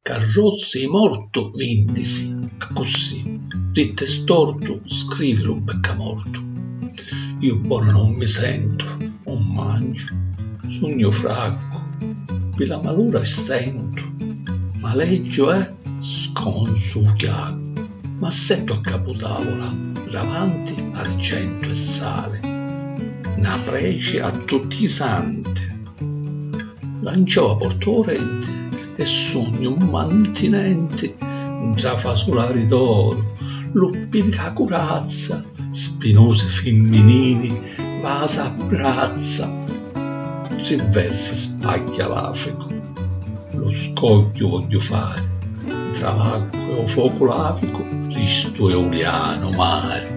Carrozzi 'i mortu vinnisi, accussì, dittu e stortu, scrivi lu beccamortu. Iu bonu non mi sentu, 'un manciu, sugnu fraccu, pi la malura e stentu, maleggiu e, sconzu 'u chiaccu, m'assettu a capu tavula, davanti argentu e sali, 'na preci a tutti i santi, lanciau a porta 'u renti e. E sugnu mantinenti ntra fasulari d'oru, luppi di la curazza, spinusi fimminili, vasa a brazza. Tri versi spagghia l'Africu, lu scogghiu vogghiu fari, ntra l'acqua e u focu lavicu, chistu è u lianu mari.